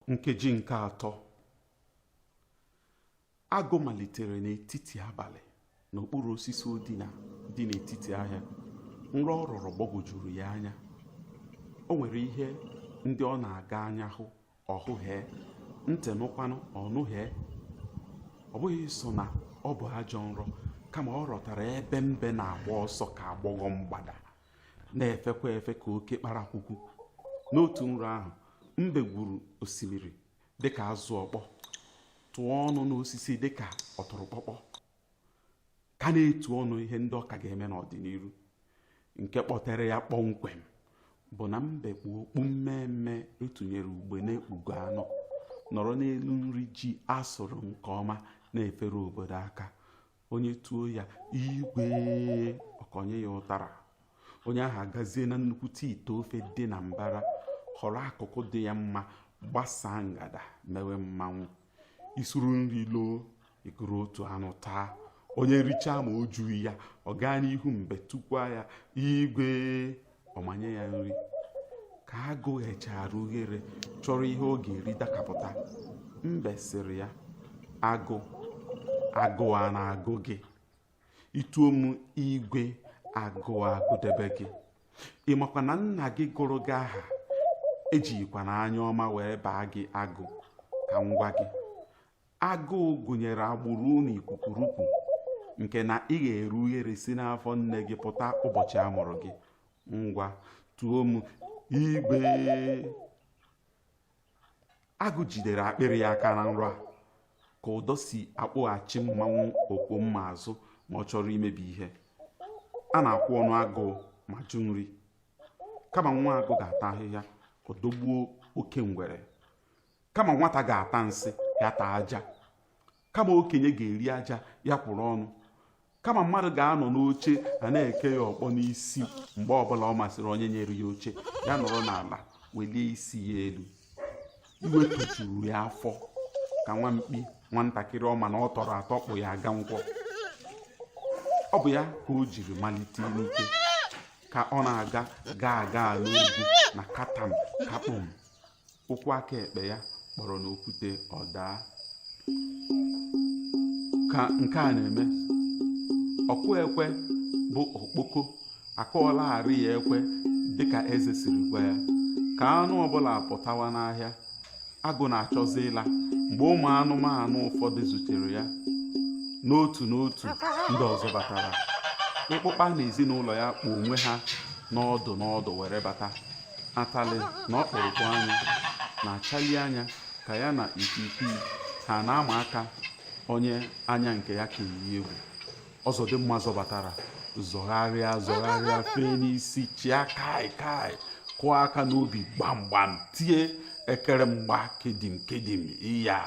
nkeji nke atọ agụ malitere n'etiti abalị n'okpuru osisi o dina dị n'etiti ahịa nrọ ọ rọrọ gbagwojuru ya anya o nwere ihe ndị ọ na-aga anya hụ ọhụhee ntị nụkwanụ ọnụhee ọ bụghị sọ na ọ bụ ajọ nrọ kama ọ rọtara ebe mbe na-agba ọsọ ka agbọghọ mgbada na-efekwa efe ka oke kparakwukwu n'otu nrọ ahụ mbe gwuru osimiri dịka azụ ọkpọ tụọ ọnụ n'osisi dịka ọtụrụkpọkpọ ka na-etu ọnụ ihe ndị ọ ka ga-eme n'ọdịnihu nke kpọtere ya kpọmkwem bụ na mbe kpu okpu mmeemmee e tunyere ugbene ekpugo anọ nọrọ n'elu nri ji a sụrụ nke ọma na-efere obodo aka onye tuo ya igwe ọ kọnye ya ụtara onye ahụ agazie na nnukwu ite ofe dị na mbara họrọ akụkụ dị ya mma gbasaa ngada mewe mmanwụ i suru nri loo i kuru otu anụ taa onye richaa ma o jughị ya ọ gaa n'ihu mbe tukwaa ya igwe ọ manye ya nri ka agụ ghechara ughere chọrọ ihe ọ ga-eri dakapụta mbe sịrị ya agụ agụụ a na-agụ gị i tuo m igwe agụụ agụdebe gị ị makwa na nna gị gụrụ gị aha ejikwa na anya ọma wee baa gị agụ ka m gwa gị agụụ gụnyere agbụrụ na ikwu kurukwu nke na i ghere ughere si n'afọ nne gị pụta ụbọchị a mụrụ gị ngwa tuo m igwe agụ jidere akpịrị ya aka na nrọ a ka ụdọ si akpọghachi mmanwụ okpomma azụ ma ọ chọrọ imebi ihe a na-akwụ ọnụ agụụ ma jụ nri kama nwa agụ ga-ata ahịhịa ọ dọgbuo oke ngwere kama nwata ga-ata nsị ya taa aja kama okenye ga-eri aja ya kwụrụ ọnụ kama mmadụ ga-anọ n'oche a na-eke ya ọkpọ n'isi mgbe ọbụla ọ masịrị onye nyere ya oche ya nọrọ n'ala welie isi ya elu iwe tojuru ya afọ ka nwa mkpi nwatakịrị ọ ma na ọ tọrọ atọ kpụ ya aga nkwọ ọ bụ ya ka o jiri malite n'ike ka ọ na-aga gaa aga n'ugwu na katam kakpụm ụkwụ aka ekpe ya kpọrọ n'okwute ọ daa ka nke a na-eme ọkụ ekwe bụ okpoko akụọlagharị ya ekwe dịka eze siri gwa ya ka anụ ọbụla pụtawa n'ahịa agụ na-achọzi ịla mgbe ụmụ anụmanụ ụfọdụ zutere ya n'otu n'otu ndị ọzọ batara ịkpụkpa na ezinụlọ ya kpụ onwe ha n'ọdụ n'ọdụ were bata atalị na ọkpụrụkpụ anya na-achali anya ka ya na ikwiikwii ha na-ama aka onye anya nke ya ka eyi egwu ọzọdịmgba zọbatara zọgharịa zọgharịa fee n'isi chịa kai kai kụọ aka n'obi gbamgbam tie ekere mgba kedim kedim iya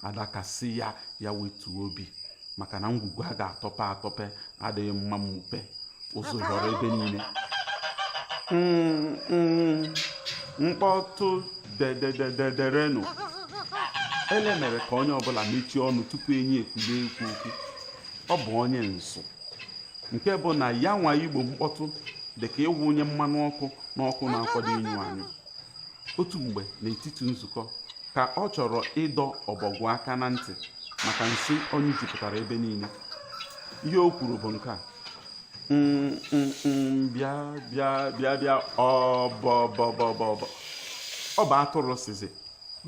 adaka sị ya ya wetuo obi maka na ngwugwu a ga-atọpe atọpe adịghị mma mmupe ụzụ zọrọ ebe niile mkpọtụ dedederenu ele mere ka onye ọbụla mechie ọnụ tupu enyi ekulie ikwu okwu ọ bụ onye nsụ nke bụ na ya nwa igbo mkpọtụ dị ka ịwụnye mmanụ ọkụ n'ọkụ na-akwado ịnyụ anyụ otu mgbe n'etiti nzukọ ka ọ chọrọ ịdọ ọbọgwụ aka na ntị maka nsị ọ nyụjupụtara ebe niile ihe o kwuru bụ nke a mm, mm, mm, bịa bịa bịa bịa ọbọbọbọbọ ọ bụ atụrụ sịzị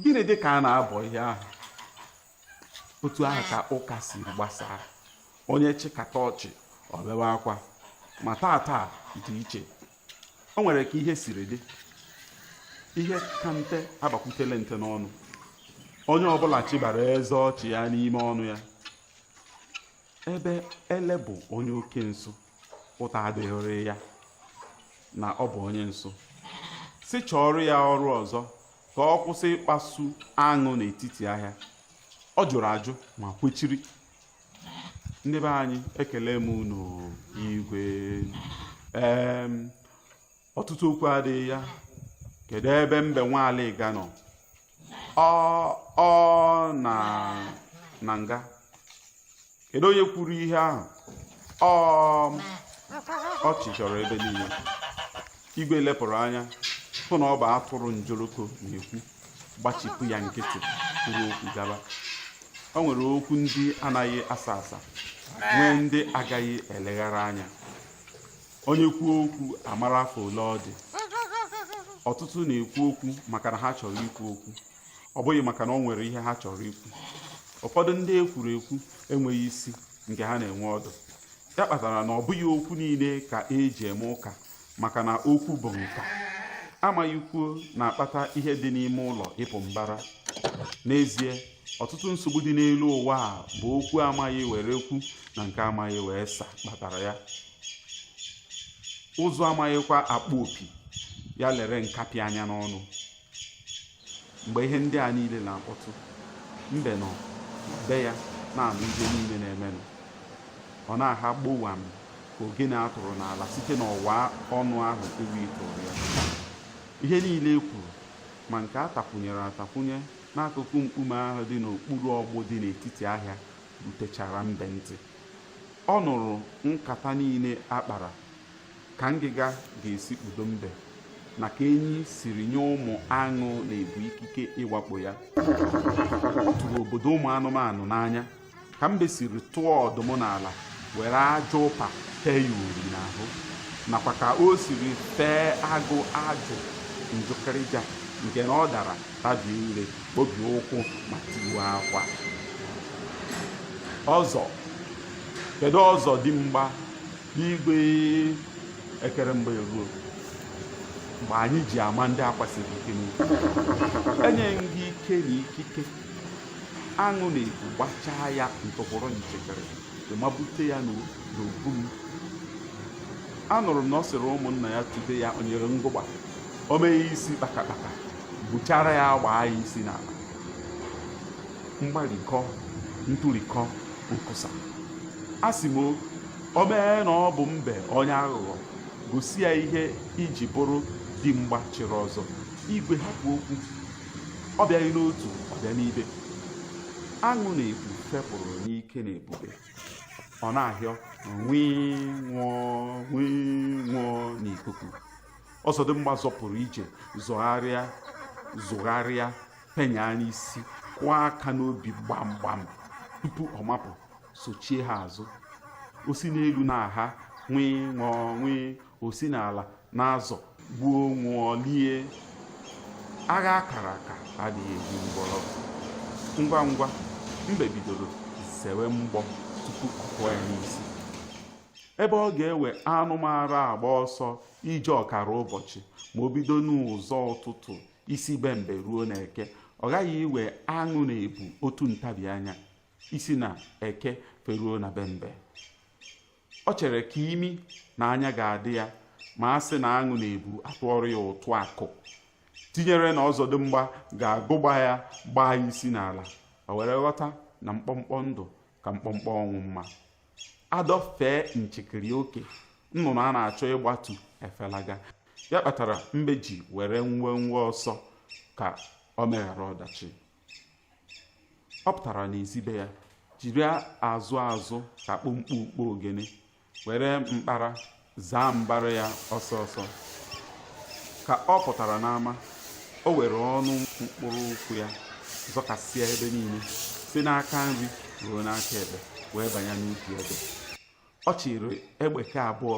gịnị dị ka a na-abọ ihe ahụ otu ahụ ka ụka si gbasaa onye chịkata ọchị o bewe akwa ma taa taa dị iche o nwere ka ihe siri dị ihe ka nte agbakwutele nte n'ọnụ onye ọbụla chịbara eze ọchị ya n'ime ọnụ ya ebe ele bụ onye oke nsụ ụta adịghịrị ya na ọ bụ onye nsụ sị chọọrọ ya ọrụ ọzọ ka ọ kwụsị ịkpasu aṅụ n'etiti ahịa ọ jụrụ ajụ ma kwechiri ndị be anyị ekele m unu igwe ee ọtụtụ okwu adịghị ya kedu ebe mbe nwa alịga nọ ọ nọ na nga kedu onye kwuru ihe ahụ ọchị chọrọ ebe niile igwe lepụrụ anya hụ na ọ bụ atụrụ njoroko na-ekwu gbachipụ ya nkịtị kwuru okwu gaba o nwere okwu ndị anaghị asa asa nwee ndị agaghị eleghara anya onye kwuo okwu amara afọ ole ọ dị ọtụtụ na-ekwu okwu maka na ha chọrọ ikwu okwu ọ bụghị maka na o nwere ihe ha chọrọ ikwu ụfọdụ ndị ekwuru ekwu enweghị isi nke ha na-enwe ọdụ ya kpatara na ọ bụghị okwu niile ka eji eme ụka maka na okwu bụ nka amaghị kwuo na-akpata ihe dị n'ime ụlọ ịpụ mbara n'ezie ọtụtụ nsogbu dị n'elu ụwa a bụ okwu amaghị were kwuo na nke amaghị wee sa kpatara ya ụzụ amaghịkwa akpụ opi ya lere nkapị anya n'ọnụ mgbe ihe ndị a niile na-akpọtụ mbe nọ be ya na-anụ ihe niile na-emenụ ọ na-aha gbowam ka ogene a tụrụ n'ala site n'ọwa ọnụ ahụ ewi tụrụ ya ihe niile e kwuru ma nke a takwunyere atakwunye n'akụkụ mkpume ahụ dị n'okpuru ọgbụ dị n'etiti ahịa rutechara mbe ntị ọ nụrụ nkata niile a kpara ka ngịga ga-esi kpudo mbe na ka enyi siri nye ụmụ aṅụ na ebu ikike ịwakpo ya ọ tụrụ obodo ụmụ anụmanụ n'anya ka mbe siri tụọ ọdụm n'ala were aja ụpa tee ya uri n'ahụ nakwa ka o siri fee agụ ajụ njụkịrịja nke na ọ dara tabie ire kpobie ụkwụ ma tiwe akwa ọzọ kedu ọzọdịmgba igwe ekere mgba eruo mgbe anyị ji ama ndị akwa siri ike n'ike enye m gị ike na ikike aṅụ na ebu gbachaa ya ntụpụrụ nchekere ma bute ya n'obu m anụrụ m na ọ sịrị ụmụnna ya tube ya onyere ngụgba o mee isi kpakakpaka buchara ya gbaa ya isi n'ala mgbarikọ ntụrikọ nkwụsa a sị m o mee na ọ bụ mbe onye aghụghọ gosi ya ihe i ji bụrụ di mgba chiri ọzọ igwe hapụ okwu ọ bịaghị n'otu ọ bịa n'ibe aṅụ na ebu fepụrụ n'ike na ebube ọ na-ahịọ nwii nwụọ nwii nwụọ n'ikuku ọzọdịmgba zọpụrụ ije zọgharịa zụgharịa penye anya isi kụọ aka n'obi gbam gbam tupu ọ mapụ sochie ha azụ o si n'elu na-aha nwii nwụọ nwii o si n'ala na-azọ gbuo nwụọ lie agha a kara aka adịghị eji ngwọrọ ngwa ngwa mbe bidoro zewe mgbọ tupu ọ kụọ ya n'isi ebe ọ ga-ewe anụ mara agba ọsọ ije ọkara ụbọchị ma o bido n'ụzọ ụtụtụ isi be mbe ruo na eke ọ gaghị iwe aṅụ na ebu otu ntabi anya isi na eke feruo na be mbe ọ chere ka imi na anya ga-adị ya ma a sị na aṅụ na ebu atụọrọ ya ụtụ akụ tinyere na ọzọdịmgba ga-agụgba ya gbaa ya isi n'ala o were ghọta na mkpọmkpọ ndụ ka mkpọmkpọ ọnwụ mma a dọfee nchekiri oke nnụnụ a na-achọ ịgbatu efelaga ya kpatara mbe ji were nwewe ọsọ ka o meghara ọdachi ọ pụtara n'ezi be ya jiri azụ azụ ka kpomkpo ukpo ogene were mkpara zaa mbara ya ọsọ ọsọ ka ọ pụtara n'ama o were ọnụ mkpụrụ ụkwụ ya zọkasịa ebe niile si n'aka nri ruo n'aka ekpe wee banye n'ubi ebe ọ chịrị egbeke abụọ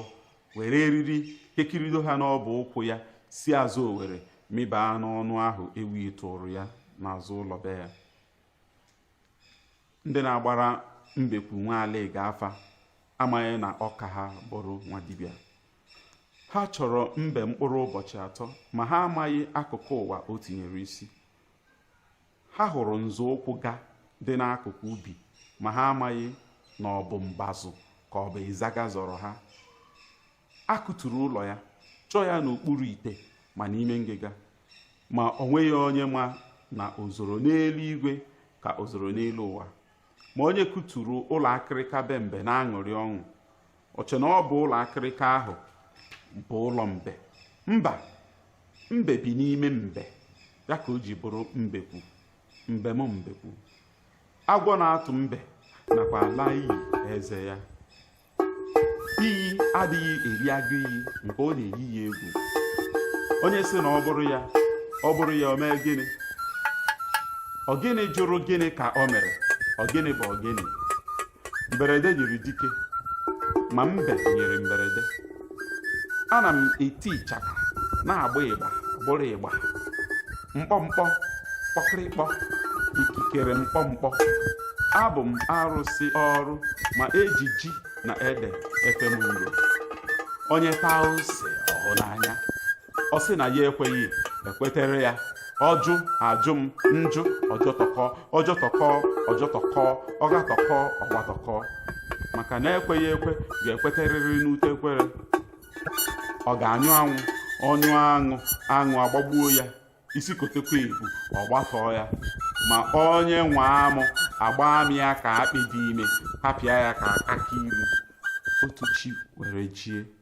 were eriri kekirido ha n'ọbụ ụkwụ ya si azụ owere mịbaa n'ọnụ ahụ ewi tụụrụ ya n'azụ ụlọ be ya ndị na-agbara mbekwu nwa alịga afa amaghị na ọ ka ha bụrụ nwa dibịa ha chọrọ mbe mkpụrụ ụbọchị atọ ma ha amaghị akụkụ ụwa o tinyere isi ha hụrụ nzọụkwụ ga dị n'akụkụ ubi ma ha amaghị na ọ bụ mbazụ ka ọ bụ ịzaga zọrọ ha a kụturu ụlọ ya chọọ ya n'okpuru ite ma n'ime ngịga ma o nweghị onye ma na o zoro n'elu igwe ka o zoro n'elu ụwa ma onye kụturu ụlọ akịrịka be mbe na-aṅụrị ọṅụ o che na ọ bụ ụlọ akịrịka ahụ bụ ụlọ mbe mba mbe bi n'ime mbe ya ka o ji bụrụ mbekwu mbem mbekwu agwọ na-atụ mbe na-akwa ala iyi eze ya iyi adịghị eri agụ iyi nke ọ na-eyi ya egwu onye sị na ọ bụrụ ya ọ bụrụ ya o mee gịnị ọgịnị jụrụ gịnị ka o mere ọgịnị bụ ọgịnị mberede nyiri dike ma mbe nyiri mberede ana m eti ịchaka na-agba ịgba bụrụ ịgba mkpọmkpọ kpọkịrịkpọ ikikere mkpọmkpọ abụ m arụsị ọrụ ma e ji ji na ede efe m nru onye taa ose ọhụ n'anya ọ sị na ya ekweghị e kwetere ya ọjụ ajụ m njụ ọjọtọkọ ọjọtọkọ ọjọtọkọ ọgatọkọ ọgbatọkọ maka na ekweghị ekwe ga-ekweterịrị n'ute ekwere ọ ga-anyụ anwụ ọnyụ aṅụ aṅụ agbagbuo ya isi kotekwa ebu ọ gbatọọ ya ma onye nwe amụ agbaa m ya ka akpị dị ime tapịa ya ka akị ilu otu chi were jie